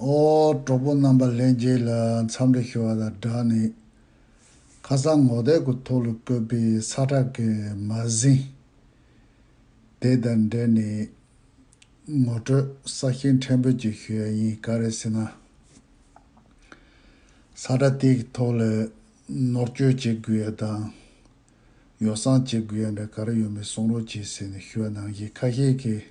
ཨོ། གྲོགས་པོ་རྣམ་པ་ལྷན་རྒྱས་ལ་འཚམས་འདྲི་ཞུ་བ་དང་སྦྲགས་ནས། ཁ་སང་ངོ་དེབ་གུ་དོག་ལ་བཀོད་པའི་ས་བྲག་གི་མ་ཟིན། དེ་དང་འབྲེལ་ནས། ངོ་སྤྲོད་ས་ཞིང་ཕྲན་བུ་ཅིག་ཞུ་ཡ་ཡིན་ག་རེ་ཟེར་ན། ས་བྲག་དེ་གི་ཐོག་ལ་ནོར་བཅོས་བྱེད་དགོས་ཡ་དང། ཡོ་བསྲང་བྱེད་དགོས་ཡ་འདྲ་ག་རེ་ཡོད་མེད་གསུང་རོགས་གྱིས་ཟེར་ནས་ཞུ་བ་ནང་བཞིན་ཁ་ཤས་ཀྱིས།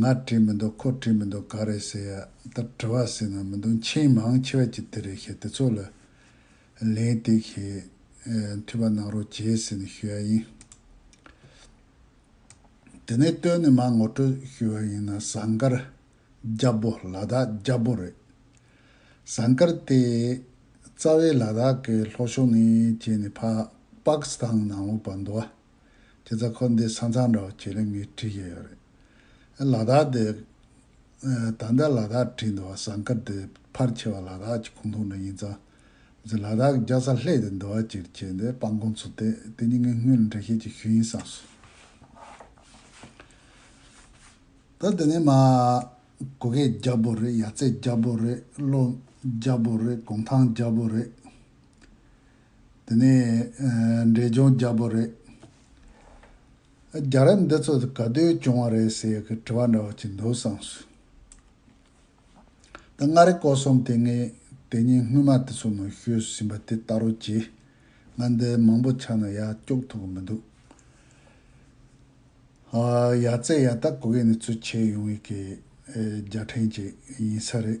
ང་བྲིས་མི་འདུག་ཁོ་བྲིས་མི་འདུག་ག་རེད་ཟེར་ཡ་ད་དྲི་བ་ཟེར་ན་མི་འདུག་མཆན་མང་ཆེ་བ་གྱི་དེ་རེད་ཤེས་དེ་ཚོ་ལ་ལན་ཏིག་ཤེས་འཐུས་པ་གནང་རོགས་གྱིས་ཟེར་ནས་ཞུ་ཡ་ཡིན། དེ་ནས་སྟོད་ནས་མ་ངོ་སྤྲོད་ཞུ་བ་ཡིན་ན་ཟངས་དཀར་རྒྱ་བོ་ལ་དྭགས་རྒྱ་བོ་རེད། ཟངས་དཀར་དེ་རྩ་བའི་ལ་དྭགས་ཀྱི་ལྷོ་ཕྱོགས་ནས་བྱས་ནས་ཕ་པག་སི་ཐང་ནང་འོག་པ་མདོ་བ། དེ་ཚོ་ཁོ་འདི་ས་མཚང་འདྲ་བོ་བྱེད་ལེ་མི་བྲིས་ཀྱི་ཡོད་རེད། ལ་དྭགས་དེ། ད་ལྟ་ལ་དྭགས་བྲིས་འདུག་བ་ཟངས་དཀར་དེ་ཕར་ཆེ་བ་ལ་དྭགས་ཀྱི་ཁུངས་ཐུང་ན་ཡིན་ཙང། ལ་དྭགས་ཀྱི་རྒྱ་ས་ལྷས་དེ་འདུག་བ་ཅིར་བྱས་འདི་སྤང་གོང་ཚུ་དེ་དེ་གཉིས་ངའི་སྔོན་ལ་འདྲ་བཤད་ཀྱི་ཤུལ་ཡིན་བསམས་སོ། ད་དེ་ནས་མ། གུ་གེ་རྒྱ་བོ་རེད་ཡ་ཚེ་རྒྱ་བོ་རེད་བློ། རྒྱ་བོ་རེད་གུང་ཐང་རྒྱ་བོ་རེད། དེ་ནི་འབྲས་ལྗོངས་རྒྱ་བོད་རེད། རྒྱ་རབས་འདི་ཚོ་ག་དུས་བྱུང་བ་རེད་ཟེར་གི་དྲི་བ་འདྲ་བོ་ཅིག་འདུག་བསམ་སོང། ད་མངའ་རིས་སྐོར་གསུམ་དེ་ངས་དེ་ཉིན་སྔོན་མ་དེ་ཚོའི་ནང་ཤོད་ཟིན་པ་དེ་ལྟ་རུ་གྱིས། ང་འདི་མང་པོ་ཆགས་ན་ཡག་སྐྱོག་ཐུབ་གི་མི་འདུག། ཡ་རྩེ་ཡ་ད་གོ་གི་ནི་ཚུལ་འཆལ་ཡོང་ཡི་གི་རྒྱ་ཕྲན་ཅིག་ཡིན་ས་རེད།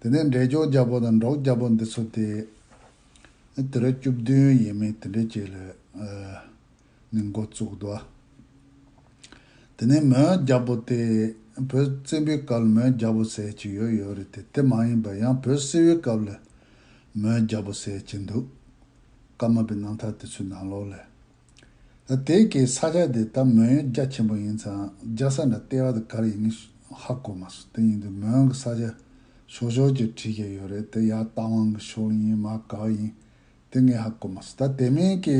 དེ་ནས་འབྲས་ལྗོངས་རྒྱལ་པོ་དང་འབྲོག་རྒྱལ་པོ་འདི་ཚོ་སྟེ། དུས་རབས་བཅུ་བདུན་ཡས་མས་དེ་འདྲའི་རྗེས་ལ་ནས་མགོ་བཙུགས་འདུག། དེ་ནས་མོན་རྒྱལ་པོ་སྟེ། བོད་བཙན་པོའི་སྐབས་ལ་མོན་རྒྱལ་པོ་ཟེར་གྱི་ཡོད་ཡོད་རེད་དེ་དེ་མ་ཡིན་པར་ཡང་བོད་བསིལ་བའི་སྐབས་ལ་མོན་རྒྱལ་པོ་ཟེར་གྱི་འདུག། ཀརྨ་པའི་རྣམ་ཐར་དེ་ཚོའི་ནང་ལོགས་ལ། དེའི་གེ་ས་ཆ་དེ་ད་མོན་ཡོན་རྒྱ་ཆེན་པོ་ཡིན་ཙང་རྒྱ་ས་འདྲ་ལྟེ་བ་དུ་གར་ཡིན་ངེས་ཧ་གོ་མ་སོང་དེ་ཡིན་དུས་མོན་གི་ས་ཆ་ཞོག་ཞོག་ཅིག་བྲིས་ཀྱི་ཡོད་རེད་དེ་ཡར་རྟ་དབང་གི་ཞོག་ཡིན་མ་ག་ཡིན་དེ་ངེས་ཧ་གོ་མ་སོང་ད་དེ་མིན་གི་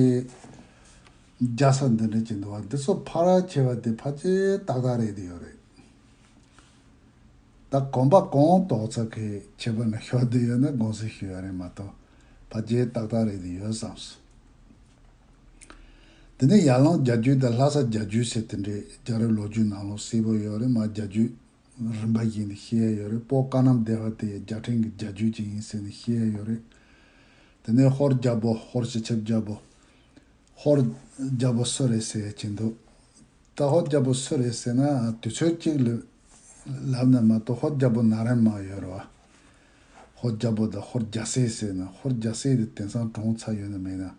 རྒྱ་ས་འདི་འདྲ་ཅིག་འདུག་བ་འདི་ཚོ་ཕ་ར་ཁྱེར་བ་དེ་ཕ་ཅེ་ཏག་ཏག་རེད་དེ་ཡོད་རེད། ད་གོམ་པ་གོང་ལྡོག་ཚ་གི་བྱེད་པ་ནི་ཞོར་དུ་ཡོད་ན་དགོངས་སེལ་ཞུ་ཡ་རེད་མ་གཏོགས་བ་རྒྱའི་ཏག་ཏག་རེད་དུ་ཡོད་བསམ་སོང། དེ་ནས་ཡར་ལངས་རྒྱ་རྒྱུད་དང་ལྷ་ས་རྒྱ་རྒྱུད་ཟེར་དེ་འདྲས་རྒྱ་རི་ལོ་རྒྱུས་ནང་ལོ་སིལ་བུར་ཡོད་རེད་མ་རྒྱ་རྒྱུད་རིམ་པ་བཞིན་དུ་ཤེས་ཡ་ཡོད་རེད་སྤོ་དཀར་ནམ་སྡེ་བ་དེ་ཡང་རྒྱ་ཕྲན་གྱི་རྒྱ་རྒྱུད་ཅིག་ཡིན་ཟེར་ནས་ཤེས་ཡ་ཡོད་རེད། དེ་ནས་ཧོར་རྒྱ་སྤོ་ཧོར་སྤྱི་ཁྱབ་རྒྱ་སྤོ། ཧོར། རྒྱ་སྤོ་སུ་རེད་ཟེར་ཡ་བྱེད་འདུག་ད་ཧོར་རྒྱལ་པོ་སུ་རེད་ཟེར་ན་དུས་ཚོད་གཅིག་ལབ་ན་མ་གཏོགས་ཧོར་རྒྱལ་པོ་ན་རན་མ་ཡོད་རེད་བ། ཧོར་རྒྱལ་པོ་དང་ཧོར་རྒྱལ་སྲས་ཟེར་ན་ཧོར་རྒྱལ་སྲས་དེ་དེང་སང་གྲོངས་ཚར་ཡོད་ན་མེད་ན་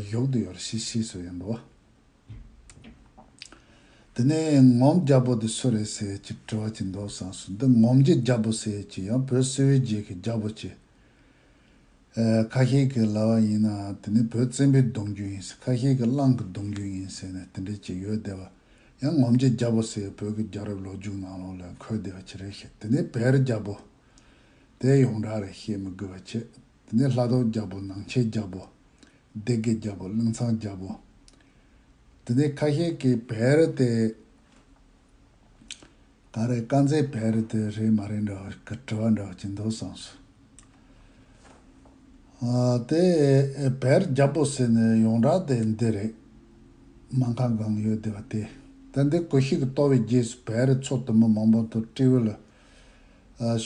གཞོག་ཏུ་ཡོད་རེད་ཤི་ཤི་ཟེར་ཡོད་འདུག་བ། དེ་ནས་ངོམ་རྒྱལ་པོ་དེ་སུ་རེད་ཟེར་གྱི་དྲི་བ་གྱི་འདོགས་སམ་སུ་འདི་ངོམ་གྱི་རྒྱལ་པོ་ཟེར་གྱི་ཡང་བོད་སིལ་བའི་རྗེས་ཀྱི་རྒྱལ་པོ་ཆེ། ཁ་ཤས་ཀྱིས་ལྭ་བ་ཡིན་ནའང་དེ་ནི་བོད་བཙན་པོའི་གདུང་རྒྱུད་ཡིན་ཟེར་ཁ་ཤས་ཀྱིས་གླང་གི་གདུང་རྒྱུད་ཡིན་ཟེར་ནས་དེ་འདྲའི་བྱེད་ཡུལ་བསྡད་པ། ཡང་ངོམ་བྱེད་རྒྱ་པོ་ཟེར་བའི་བོད་ཀྱི་རྒྱ་རབས་ལོ་རྒྱུས་ནང་ལོགས་ལས་འཁོད་བསྡད་པ་ཅི་རེད་ཤེས་དེ་ནི་བེར་རྒྱ་པོ། དེའི་ཡོངས་གྲགས་རེད་ཤེས་མི་དགོས་པ་ཆེ། དེ་ནི་ལྷ་ཐོག་རྒྱ་པོ་ནང་ཆེན་རྒྱ་པོ། སྡེ་དགེ་རྒྱ་པོ་གླིང་ཚང་རྒྱ་པོ། དེ་ནི་ཁ་ཤས་ཀྱིས་བེར་ཏེ། ད་རེས་དཀར་མཛེས་བལ་རི་དེ་རེད་མ་རེད་འདྲ་བ་དྲི་བ་འདྲ་བ་གྱིན་འདུག་བསམ་སོང། དེ་བལ་རྒྱ་པོ་ཟེར་ནས་ཡོང་གྲགས་དེ་འདི་རེད། སྨན་ཁང་གང་ཡོད་དེ་བ་དེ། ད་འདི་གོ་ཤིག་གི་ལྟོ་བའི་རྗེས་སུ་བལ་རི་ཚོ་དུ་མ་མང་པོ་དུ་སྤྲེའུ་ལ་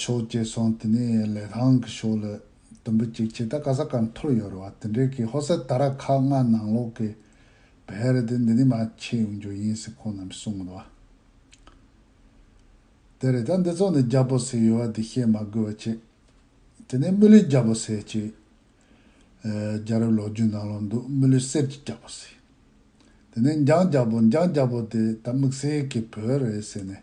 ཤོག་ཅེས་སོང་དེ་ནས་ལས་ཐང་གི་ཤོག་ལ་དུམ་བུ་གཅིག་བྱས་ད་ག་ས་གར་འཐོར་ཡོད་རེད་བ་དེ་འདྲའི་གི་ཧོ་སེར་ད་ར་ཁ་སྔ་ནང་ལོག་གི་བལ་རི་དེ་འདི་ནས་མ་ཕྱེ་ཡོང་རྒྱུ་ཡིན་ཟེར་ཁོང་རྣམས་གསུང་གི་འདུག་བ། དེ་རེད་ད་འདི་ཚོ་ནི་རྒྱ་བོད་ཟེར་ཡོད་བ་དེ་བཤད་མ་དགོས་བ་ཆེ། དེ་ནས་རྨི་ལུས་རྒྱ་བོད་ཟེར་གྱིས། རྒྱ་རབས་ལོ་རྒྱུས་ནང་ལ་འདུག་རྨི་ལུས་གསེར་གྱི་རྒྱ་བོད་ཟེར། དེ་ནས་འཇང་རྒྱ་བོད་འཇང་རྒྱ་བོད་དེ་ད་དམིགས་བསལ་གྱི་བོད་རེད་ཟེར་ནས།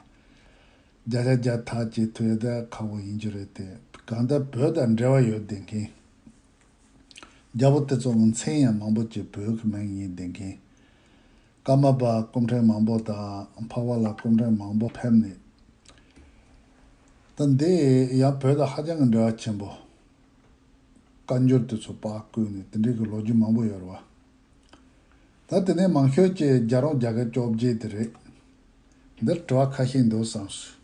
རྒྱ་ཆ་རྒྱ་ཐག་ཅེས་ཐོས་ཡོད་ད་ཁག་པོ་ཡིན་རྒྱུ་རེད་དེ་གང་ལྟར་བོད་དང་འབྲེལ་བ་ཡོད་བསྡད་མཁན། རྒྱ་བོད་དེ་ཚོ་ངོ་མཚན་ཡང་མང་པོ་ཅིག་བོད་ཀྱི་མིང་ཡིན་བསྡད་མཁན། ཀརྨ་པ་སྐུ་ཕྲེང་མང་པོ་དང་འཕགས་པ་ལ་སྐུ་ཕྲེང་མང་པོ་ཕེབས་ནས། ད་འདི་ཡང་བོད་དང་ཧ་ཅང་གི་འབྲེལ་བ་ཆེན་པོ། བཀའ་འགྱུར་དེ་ཚོ་པགས་བསྐུས་ནས་དེ་འབྲེལ་གྱི་ལོ་རྒྱུས་མང་པོ་ཡོད་རེད་བ། ད་དེ་ནས་མང་ཤོས་ཀྱི་རྒྱ་རོང་རྒྱ་སྐད་སྐྱོབ་རྗེས་དེ་རེད། འདིར་དྲི་བ་ཁ་ཤས་འདུག་བསམ་སོང།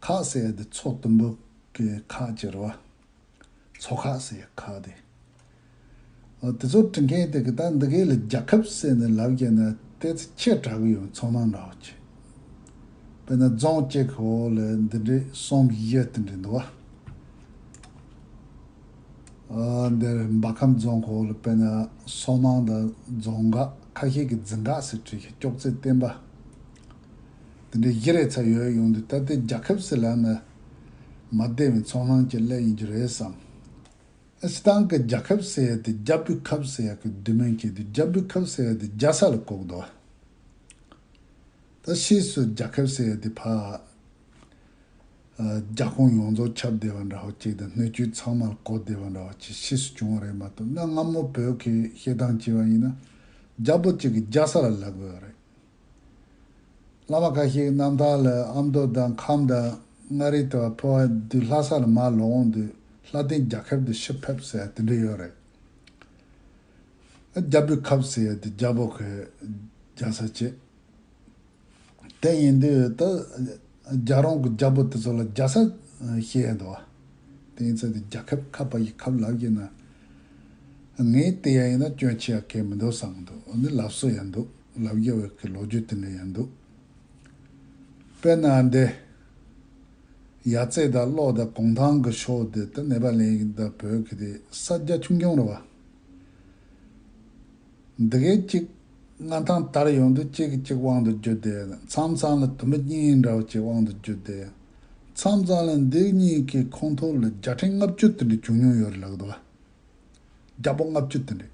ཁ་ཟས་དེ་ཚོགས་གཏུམ་པོ་ཀའི་ཁ་ཅེར་བ། ཚོགས་ཁ་ཟས་ཁ་དེ། དེ་ཚོ་བྲི་མཁན་དེ་གི་ད་འདི་གའི་ལ་རྒྱ་ཁབ་བསད་ནས་ལབ་རྒྱས་ན་དེ་ཚོ་ཁྱེད་དྲག་གི་ཡོང་ཚོང་ནང་འདྲ་བོ་ཅི། དཔེར་ན་རྫོང་བཅས་ཁི་བོ་ལ་འདི་འདྲའི་གསུམ་བཞི་དེ་འདྲས་འདུག་བ། འདིར་འབའ་ཁམས་རྫོང་ཁི་བོ་ལ་དཔེར་ན་སོག་ནང་དང་རྫོང་འགག་ཁ་ཤས་ཀི་རྫི་འགག་སེ་བྲིས་ཤིག་ཅོག་ཙེ་བསྟན་པ། འདི་འདྲའི་བཞི་རེ་ཚ་ཡོད་ཡོང་དུས་ད་ལྟའི་རྒྱ་ཁབ་སི་ལ་ནི་མ་བདེ་བའི་ཚོང་ལྷང་གྱི་གླད་ཡིན་རྒྱུ་རེད་བསམ། ཨེ་སི་ཐང་གི་རྒྱ་ཁབ་སི་ཡ་དེ་རྒྱ་བོད་ཁབ་སི་ཡ་གི་བདུད་མོས་བསྐྱེད་དུས་རྒྱ་བོད་ཁབ་སི་ཡ་དེ་རྒྱ་ས་ལ་བཀོག་འདུག་ད་ཕྱིས་སུ་རྒྱ་ཁབ་སི་ཡ་དེ་ཕ། རྒྱ་ཁོངས་ཡོངས་རྫོགས་ཁྱབ་བདེ་བ་འདྲ་བོ་ཅིག་དང་སྣོད་བཅུད་ཚང་མ་ལ་གོ་བདེ་བ་འདྲ་བོ་ཅིག་ཕྱིས་སུ་བྱུང་བ་རེད་མ་གཏོགས་གནའ་སྔ་མོ་བོད་ཀྱི་བཤད་སྟངས་བྱས་པ་ཡིན་ན་རྒྱ་བོད་གཅིག་གི་རྒྱ་ས་ལ་ལབ་དགོས་པ་རེད། བླ་མ་འགའ་ཞིག་གནམ་ཐང་ལ་ཨ་མདོ་དང་ཁམས་དང་མངའ་རིས་དང་ཕོ་བ་བདུད་ལྷ་ས་ལ་མར་ལོག་འོང་དུས་ལྷ་ལྡན་རྒྱ་ཁབ་དུ་ཕྱིར་ཕེབས་ཟེར་དེ་འདྲ་ཡོད་རེད། རྒྱ་བོད་ཁབ་ཟེར་དེ་རྒྱ་བོད་ཁོས་རྒྱ་ས་བྱེད། དེ་ཡིན་དུས་ད་རྒྱ་རོང་གི་རྒྱ་བོད་དེ་ཚོ་ལ་རྒྱ་ས་བྱེད་ཡས་འདུག་དེ་ཡིན་ཚད་དེ་རྒྱ་ཁབ་ཁ་བ་ཡི་ཁབ་ལབ་ཀྱི་ན་ངས་དེ་ཡ་ཡིན་ན་སྐྱོན་ཆེ་ཡ་གས་མི་འདུག་བསམ་འདུག་འདི་ལབ་སྲོལ་ཡ་འདུག། ལབ་རྒྱ་བོད་ཀྱི་ལོ་རྒྱུས་དེ་འདྲ་ཡང་འདུག་དཔེར་ན་འདི། ཡ་རྩེ་དང་གློག་དང་གུང་ཐང་གི་ཕྱོགས་དེ་དང་ནེ་པ་ལའི་དང་བོད་ཀྱི་དེ་ས་རྒྱ་ཆུང་ཆུང་རེད་བ། འདི་གའི་གཅིག་མངའ་ཐང་དར་ཡོང་དུས་གཅིག་གི་གཅིག་དབང་དུ་བསྒྱུར་ཏེ་མཚམས་མཚམས་ལ་དུ་མི་གཉིས་འདྲ་བ་གཅིག་དབང་དུ་བསྒྱུར་ཏེ་མཚམས་མཚམས་ལ་འདི་གཉིས་ཀྱི་ཁོངས་ཐོག་ལ་རྒྱ་ཕྲན་ལྔ་བཅུ་དེ་འདྲ་བྱུང་མྱོང་ཡོད་རེད་ལགས་དེ་བ། རྒྱ་པོ་ལྔ་བཅུ་དེ་འདྲས།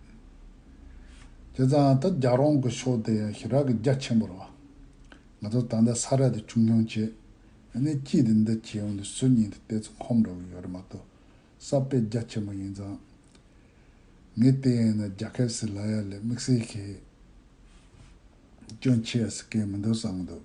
དེ་ཙང་ད་རྒྱ་རོང་གི་ཕྱོགས་དེ་ཡང་ཞི་རག་གི་རྒྱ་ཆེན་པོར་བ། ང་ཚོ་ད་ལྟ་ས་ར་དེ་ཆུང་ཆུང་བྱས། ཨ་ནེ་སྐྱིད་དེ་འདི་བྱས་འོན་ཏེ་སུ་ཉིད་དེ་ལྟས་ཚོ་ཁོམ་འགྲོ་གི་ཡོད་རེད་མ་གཏོགས་ས་དཔེ་རྒྱ་ཆེན་པོ་ཡིན་ཙང། ངས་དེ་ཡིན་ན་རྒྱ་ཁབ་སི་ལ་ཡ་ལས་དམིགས་བསལ་གྱིས་སྐྱོན་ཆེ་ཡ་སི་ཀའི་མི་འདུག་བསམ་གྱི་འདུག།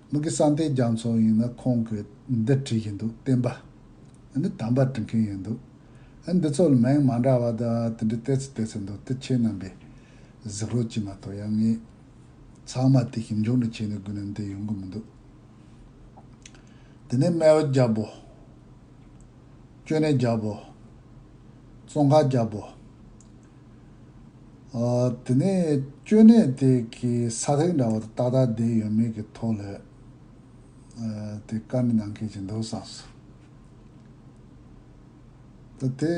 མི་གི་ས་མཐའི་རྒྱ་མཚོ་ཡིན་ན་ཁོང་གི་འདི་བྲིས་ཀྱི་འདུག་བསྟན་པ་ནི་དམ་པར་བྲི་མཁན་ཡིན་འདུག་ཨ་འདི་ཚོ་ལ་མིང་མ་འདྲ་བ་དང་དེ་འདྲའི་བལྟས་ཚུལ་བལྟས་ཚུལ་འདུག་དེ་ཁྱེད་རྣམས་པས་གཟིགས་རོགས་གྱིས་མ་གཏོགས་ཡ་ངས་ཚང་མ་དེ་ཞིབ་འཇུག་འདྲ་བྱས་ནས་དགོས་ན་འདི་ཡོང་གི་མི་འདུག་དེ་ནས་སྨལ་བ་རྒྱབ་བོ། ཅོ་ནེ་རྒྱབ་བོ། ཙོང་ཁ་རྒྱབ་བོ། དེ་ནས་སྐྱོན་གནད་དེ་གི་ས་ལྷིང་འདྲ་བོ་ཏག་ཏག་བསྡད་ཡོད་མེད་ཀྱི་ཐོག་ལ་དེ་བཀའ་མི་གནང་མཁན་ཞིག་འདུག་བསམ་སོང། ད་དེ་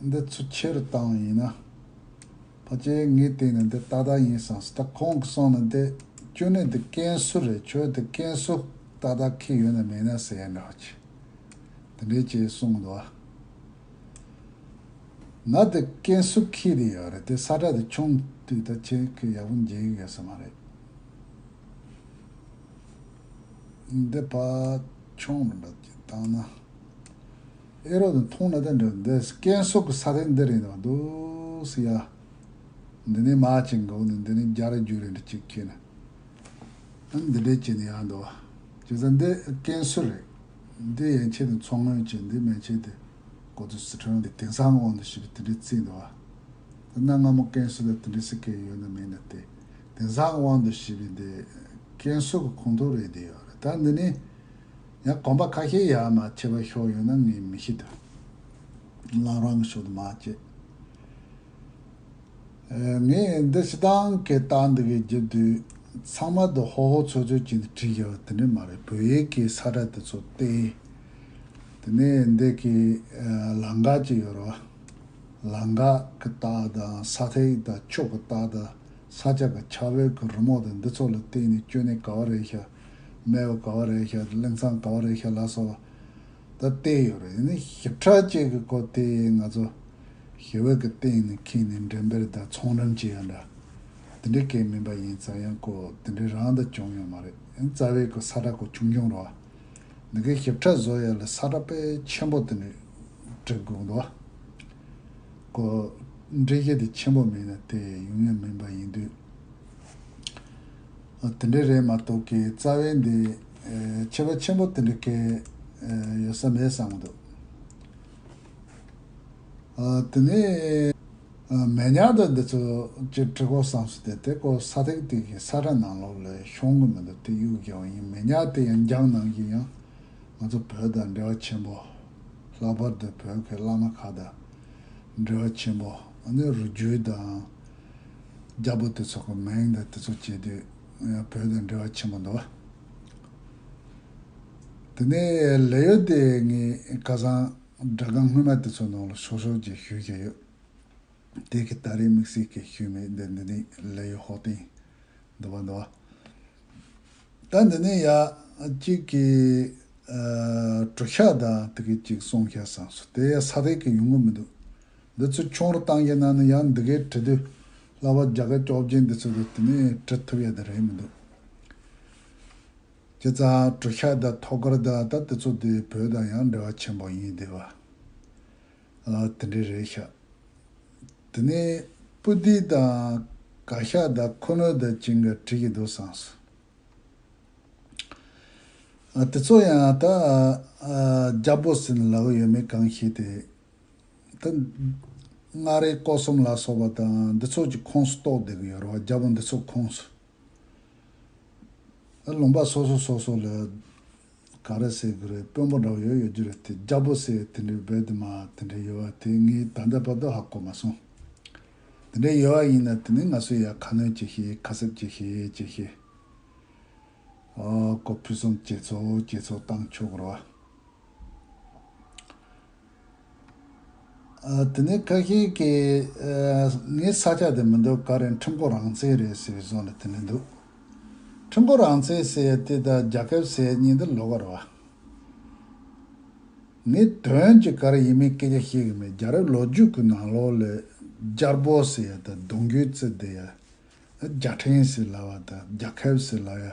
འདི་ཚོ་ཁྱེར་སྟངས་ཡིན་ན་ཕ་ཅལ་ངའི་སྟེང་ནས་འདི་ཏག་ཏག་ཡིན་བསམ་སོང་ད་ཁོང་གི་གསུང་ལ་འདི་སྐྱོན་གནད་དེ་ཀན་སུ་རེད་ཁྱོད་དེ་ཀན་སུ་ཏག་ཏག་ཁེལ་ཡོད་ན་མེད་ན་ཟེར་ཡ་འདྲ་བོ་བྱས། དེ་འདྲའི་ཅེས་གསུང་འདུག་བ། ན་དེ་ཀན་སུའུ་ཁི་རེད་ཡོད་རེད་དེ་ས་ཁྲ་དེ་ཆུང་དུས་ད་ཆེན་ཁོས་ཡག་པོ་མཇལ་གི་ཡོད་ས་མ་རེད་འདི་ཕ་ཆུང་རེད་འདོད་ཀྱི་དང་ན་ཨེ་རོ་དང་ཐུང་ན་དེ་འདྲ་རེད་འདི་ཀན་སུའུ་གི་ས་དེ་འདི་རེད་འདོད་འདུག་སི་ཡ་འདི་ནས་མ་ཅིག་འགོག་ནས་འདི་ནས་རྒྱ་ར་རྒྱུག་རེད་འདྲ་ཅིག་ཁྱེད་ནི་འདི་འདྲས་བྱས་ནས་ཡག་འདུག་བ་ཇི་ཙམ་འདི་ཀན་སུའུ་རེད། འདི་ཡན་ཆད་ནས་མཚོ་སྔོན་གྱི་འདི་མན་ཆད་དེ་གོ་ཏུ་སི་ཁྲོན་གྱི་དེང་སང་གི་དབང་དུ་བྱས་པའི་དེ་འདྲའི་རྩིས་འདི་བ། དེ་ན་སྔ་མོ་ཀན་སུའུ་ལ་དེ་འདྲའི་སི་ཁའི་ཡོད་ནི་མེད་ནི་དེ་དེང་སང་གི་དབང་དུ་བྱས་པའི་འདི་ཀན་སུའུ་གི་ཁུངས་གཏོགས་རེད་དེ་ཡོད་རེད་ད་འདི་ནས་ཡང་གོམ་པ་ཁ་ཤས་ཡར་མ་ཆད་པར་ཤོག་ཡོད་ན་ངས་མི་ཤེས་དོན་ལག་རང་གི་ཕྱོགས་དུ་མ་བཅད། ངས་འདི་ཕྱི་ཐང་གི་རྟགས་འདི་གའི་རྒྱབ་དུས་ཚང་མ་དུ་ཧོ་ཧོ་ཚོད་ཚོད་ཀྱིས་བྲིས་ཡོད་དེ་འདྲ་མ་རེད་བོད་ཡིག་གི་ས་སྒྲ་དེ་ཚོ་སྟེ། དེ་ནས་འདི་གའི་ལང་ག་ཅིག་ཡོད་རོ། ལང་ག་གི་རྟགས་དང་ས་ཐིག་དང་ཕྱོགས་གི་རྟགས་དང་ས་ཆ་གི་ཆ་བོད་ཀྱི་རི་མོ་དང་འདི་ཚོ་ལ་བརྟེན་ནས་སྐྱོ་ནད་ག་བ་རེད་ཤག་རྨེ་བ་ག་བ་རེད་ཤག་གླིང་ཚང་ག་བ་རེད་ཤག་ལ་སོགས་ད་བལྟས་ཡོད་རེད་ཞིབ་ཕྲ་བཅས་ཀྱི་སྐོར་དེ་ང་ཚོ་ཞི་བ་གི་སྟེང་ནས་འཁྱིལ་ནས་འགྲན་པེར་དང་ཚོང་རམས་བྱེད་ཡ་འདྲ། དེ་འདྲའི་སྐད་མིན་པ་ཡིན་ཙང་ཡང་ཀོ་དེ་འདྲའི་རང་དང་བྱུང་ཡོད་མ་རེད་ཡང་རྩ་བའི་ཀོ་ས་ཁྲ་ཀོ་ཆུང་ཆུང་རོ། འདི་གའི་ཞིབ་ཕྲ་བཟོ་ཡ་ལ་ས་ཁྲ་དཔེ་ཆེན་པོ་དེ་འདྲས་བྲིས་དགོས་འདུག་ཀོ། འབྲི་གཞི་དེ་ཆེན་པོ་མིན་ན་དེ་ཡུན་ཡང་མིན་པ་ཡིན་དུས། དེ་འདྲས་རེད་མ་གཏོགས་ཀི་རྩ་བའི་འདི་ཆེ་བ་ཆེན་པོ་དེ་འདྲའི་སྐད་ཡོད་ས་མེད་བསམ་གི་འདུག། དེ་ནས་མེ་ཉག་དང་འདི་ཚོ་སྤྱིར་གྲི་གོག་སམ་སུ་དེ་དེ་གོ་ས་ཐེག་ཐེག་གིས་ས་ཁྲ་ནང་ལོགས་ལས་ཤོང་གི་མི་འདུག་དེ་གཡུག་རྒྱག་བ་ཡིན་མེ་ཉག་དེ་ཡང་རྒྱང་ནང་བཞིན་ཡང་ང་ཚོ་བོད་དང་འབྲེལ་བ་ཆེན་པོ། ལྷག་པར་དུ་བོད་ཀྱི་བླ་མ་ཁག་དང་འབྲེལ་བ་ཆེན་པོ་ནི་རུ་རྒྱུད་དང། རྒྱ་པོ་དེ་ཚོ་གི་མིང་དང་དེ་ཚོ་བྱས་དུས་ཡང་བོད་དང་འབྲེལ་བ་ཆེན་པོ་འདུག། དེ་ནས་ལས་ཡོད་དེ་ངས་སྐལ་བཟང། སྒྲ་སྒང་སྔོན་མ་དེ་ཚོའི་ནང་ལ་ཤོར་ཤོར་གྱིས་ཞུས་ཀྱི་ཡོད། དེ་གི་ད་རེས་དམིགས་བསལ་གྱིས་ཞུས་མེད་འདི་འདི་ནས་ལས་ཡོད་ཧོ་ཏིང། འདི་བ་འདི་བ། ད་འདི་ནས་ཡག་གཅིག་གི་གྲོ་ཤ་དང་དེ་གི་གཅིག་སོང་ཤ་བཟང་སོ་དེ་ཡང་ས་དེ་གི་ཡོང་གི་མི་འདུག་འདི་ཚོ་ཁྱུང་རུ་བཏང་གི་ན་ནི་ཡང་འདི་གའི་དྲི་དུས་ལ་བ་རྒྱ་ག་ཀྱོག་རྗེས་འདི་ཚོ་དེ་ནས་དྲི་ཐུབ་ཡ་དེ་རེད་མི་འདུག། ཁྱེད་ཚ་གྲུ་ཤ་དང་ཐོག་སྐར་དང་ད་དེ་ཚོ་དེ་བོད་དང་ཡང་འབྲེལ་བ་ཆེན་པོ་ཡིན་དེ་བ། ཨ་དེ་འདྲས་རེད་ཤག། དེ་ནས་སྤུ་སྡིག་དང་ག་ཤ་དང་ཁོ་ནོལ་དང་གཅིག་འགའ་བྲིས་ཀྱི་འདུག་སངས་སོ། ཨ་དེ་ཚོ་ཡང་ད་རྒྱ་བོད་སིན་ལ་གི་ཡོད་མེད་གང་ཤེས་དེ། ད་མངའ་རིས་ཀོ་གསུམ་ལ་སོགས་པ་དང་འདི་ཚོ་གྱི་ཁོངས་སུ་གཏོགས་བསྡད་ཀྱི་ཡོད་རེད་བ་རྒྱ་བོད་འདི་ཚོ་ཁོངས་སུ། ཨ་ལོང་པ་སོ་སོ་སོ་སོ་ལ་གང་རེད་ཟེར་གི་རེད་དཔོན་པོ་འདྲ་བོ་ཡོད་ཡོད་རྒྱུ་རེད་དེ་རྒྱ་པོ་ཟེར་དེ་འདྲའི་བོད་དེ་མ་དེ་འདྲའི་ཡོད་བ་དེ་ངའི་ད་ལྟ་བར་དུ་ཧ་གོ་མ་སོང། དེ་འདྲའི་ཡོད་བ་ཡིན་ན་དེ་ནི་ང་ཚོས་ཡང་ཁ་སྣོན་བྱེད་ཤེས་ཁ་གསབ་བྱེད་ཤེས་བྱེད་ཤེས། ཨོ་གོ་ཕུན་སུམ་ཇེ་ཚོགས་ཇེ་ཚོགས་བཏང་ཆོག་རོ། དེ་ནས་བཀའ་ཤག་གིས་ངའི་ས་ཆ་དེ་མི་འདུག་ག་རེད་ཁྲིམས་སྐོར་རང་བཙན་རེད་ཟེར་བའི་བཟོ་ནས་དེ་ནས་འདུག་ཁྲིམས་སྐོར་རང་བཙན་ཟེར་ཡ་དེ་དང་རྒྱ་ཁབ་ཟེར་ཡ་གཉིས་འདི་ལོག་ག་རེད་བ། ངས་དོན་གྱི་ག་རེ་ཡིན་མིན་སྐད་ཆ་ཤེས་གི་མེད་རྒྱ་རབས་ལོ་རྒྱུས་ཀྱི་ནང་ལོག་ལས་རྒྱར་བོ་ཟེར་ཡ་དང་གདུང་རྒྱུད་རྩི་དེ་ཡ་རྒྱ་ཕྲན་ཟེར་ལབ་བ་དང་རྒྱ་ཁབ་ཟེར་ལབ་ཡ་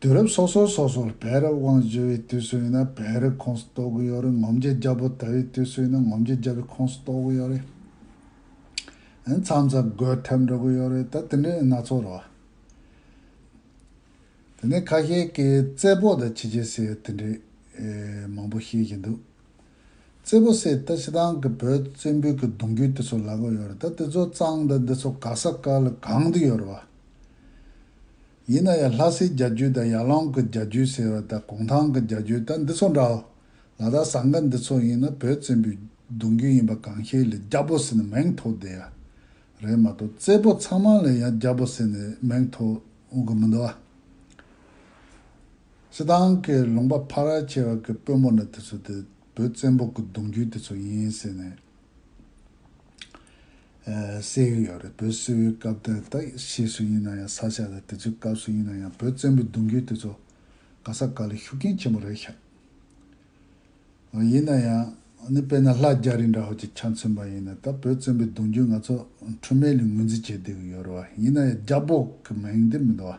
དུས་རབས་སོ་སོ་སོ་སོར་བེ་རི་དབང་བཞི་བའི་དུས་སུ་ཡིན་ན་བེ་རི་ཁོངས་སུ་གཏོགས་གི་ཡོད་རེད་ངོམ་རྗེ་རྒྱལ་པོ་དར་བའི་དུས་སུ་ཡིན་ན་ངོམ་རྗེ་རྒྱལ་པོའི་ཁོངས་སུ་གཏོགས་གི་ཡོད་རེད། ཨེ་མཚམས་ས་རྒོད་ཐེབས་འགྲོ་གི་ཡོད་རེད་ད་དེ་འདྲའི་སྣ་ཚོགས་རེད་བ། དེ་ནས་ཁ་ཤས་ཀྱིས་བཙད་པོ་དང་ཕྱི་རྒྱལ་ཟེར་ཡོད་དེ་འདྲའི་མང་པོ་བཤད་བཞིན་འདུག། བཙད་པོ་སེ་ལྟ་ཅི་ཐང་གི་བོད་དུ་བཙན་བོད་ཀྱི་གདུང་རྒྱུད་དེ་ཚོ་ལ་གོ་ཡོད་རེད་ད་དེ་ཚོ་གཙང་དང་འདི་ཚོ་ག་ས་ག་ལ་གང་དུ་ཡོད་རེད་བ། ཡིན་ན་ཡང་ལྷ་སའི་རྒྱ་རྒྱུད་དང་ཡར་ལང་གི་རྒྱ་རྒྱུད་ཟེར་བ་དང་གུང་ཐང་གི་རྒྱ་རྒྱུད་དང་འདི་ཚོ་འདྲའོ། ལ་དྭགས་ཟངས་དཀར་འདི་ཚོ་ཡིན་ན་བོད་བཙན་པོའི་གདུང་རྒྱུད་ཡིན་པ་གང་ཤེས་ལས་རྒྱ་བོ་སེ་ནི་མེང་ཐོ་དེ་ཡ་རེད་མ་གཏོགས་བཙད་པོ་ཚང་མ་ལས་ཡང་རྒྱ་བོ་སེ་ནི་མེང་ཐོ་འོང་གི་མི་འདུག་བ། སི་ཏང་གི་ལུང་པ་ཕ་ར་བྱེད་རོགས་ཀྱི་དཔོན་པོ་ནི་དེ་ཚོ་དེ་བོད་བཙན་པོ་གི་གདུང་རྒྱུད་དེ་ཚོ་ཡིན་ཟེར་ནས་བསད་ཀྱི་ཡོད་རེད་བོད་སིལ་བུའི་སྐབས་དེར་ད་ཤེས་སུ་ཡིན་ན་ཡང་ས་ཆ་དང་དེ་ཚོའི་སྐབས་སུ་ཡིན་ན་ཡང་བོད་བཙན་པོའི་གདུང་རྒྱུད་དེ་ཚོ་ག་ས་ག་ལས་ཤུགས་རྐྱེན་ཆེན་པོ་རེད་ཤག་ཨོ་ཡིན་ན་ཡང་ནི་དཔེར་ན་ལྷ་རྒྱ་རི་འདྲ་བོ་ཅིག་ཆ་མཚོན་པ་ཡིན་ན་ད་བོད་བཙན་པོའི་གདུང་རྒྱུད་ང་ཚོ་འཁྲུལ་མེད་ལས་ངོས་འཛིན་བྱེད་བསྡད་ཀྱི་ཡོད་རེད་བ་ཡིན་ན་ཡང་རྒྱ་བོད་ཀྱི་མིང་དེ་མི་འདུག་བ།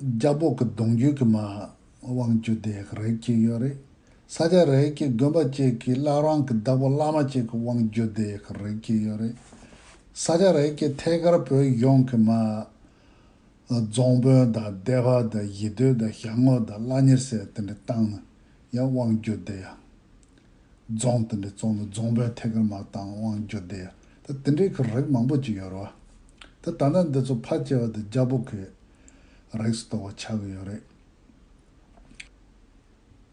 རྒྱ་སྦོག་གི་གདུང་རྒྱུད་ཀྱི་མ་དབང་བཅུ་དེ་རེག་གི་ཡོད་རེད། ས་སྐྱ་རེག་གི་དགོན་པ་བཅས་ཀྱི་བླ་རང་གི་བདག་པོ་བླ་མ་བཅས་ཀྱི་དབང་བརྒྱུད་དེ་རེག་གི་ཡོད་རེད། ས་སྐྱ་རེག་གི་ཐད་ཀར་བོད་གཞུང་གི་མ། རྫོང་དཔོན་དང་སྡེ་བ་དང་ཡི་དུས་དང་ཞང་ངོ་དང་བླ་གཉེར་སེར་དེ་འདྲ་བཏང་ན་ཡང་དབང་བརྒྱུད་དེ་ཡང། རྫོང་དེ་འདྲའི་རྫོང་དང་རྫོང་དཔོན་ཐད་ཀར་མ་བཏང་དབང་བསྒྱུར་དེ་ཡོད། ད་དེ་འདྲའི་ཁར་རིགས་མང་པོ་ཅིག་ཡོད་རེད་བ། ད་ད་ལྟ་འདི་ཚོ་ཕར་སྐྱེལ་བ་དང་རྒྱ་བོད་ཀྱི་རིགས་སུ་གཏོགས་པ་ཆགས་ཀྱི་ཡོད་རེད།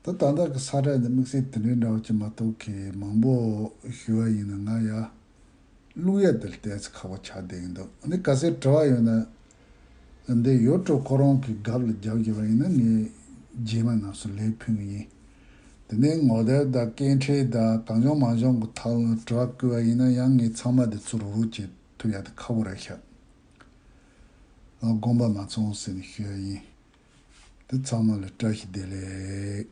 ད་ད་ལྟ་གི་ས་བཀྲ་འདི་དམིགས་བསལ་དེ་འདྲའི་འདྲ་བ་ཅིག་མ་གཏོགས་གི་མང་པོ་ཞུ་བ་ཡིན་ན་ང་ཡར་ཀླུག་ཡར་དེར་བལྟས་ཚེ་ཁག་པོ་ཆགས་བསྡད་ཀྱི་འདུག་འདི་ག་སའི་དྲི་བ་ཡོད་ན། འདི་ཡོད་དྲུག་ཁོ་རང་གི་གབ་ལ་རྒྱབ་བརྒྱབ་པ་ཡིན་ན་ངས་རྗེས་མ་ནགས་སུ་ལས་ཕུལ་ངེས་ཡིན། དེ་ནས་ངོ་དེབ་དང་སྐད་འཕྲིན་དང་གང་བྱུང་མང་བྱུང་གི་ཐག་ལ་དྲག་བསྐུལ་བ་ཡིན་ན་ཡང་ངས་ཚང་མ་དེ་ཚུར་རུག་བྱེད་ཐུབ་ཡག་དེ་ཁ་བོ་རེད་ཤག་ལགས་དགོངས་པ་མ་ཚོང་ཟེར་ནས་ཞུས་ཡ་ཡིན། དེ་ཚང་མ་ལ་བཀྲ་ཤིས་བདེ་ལེགས།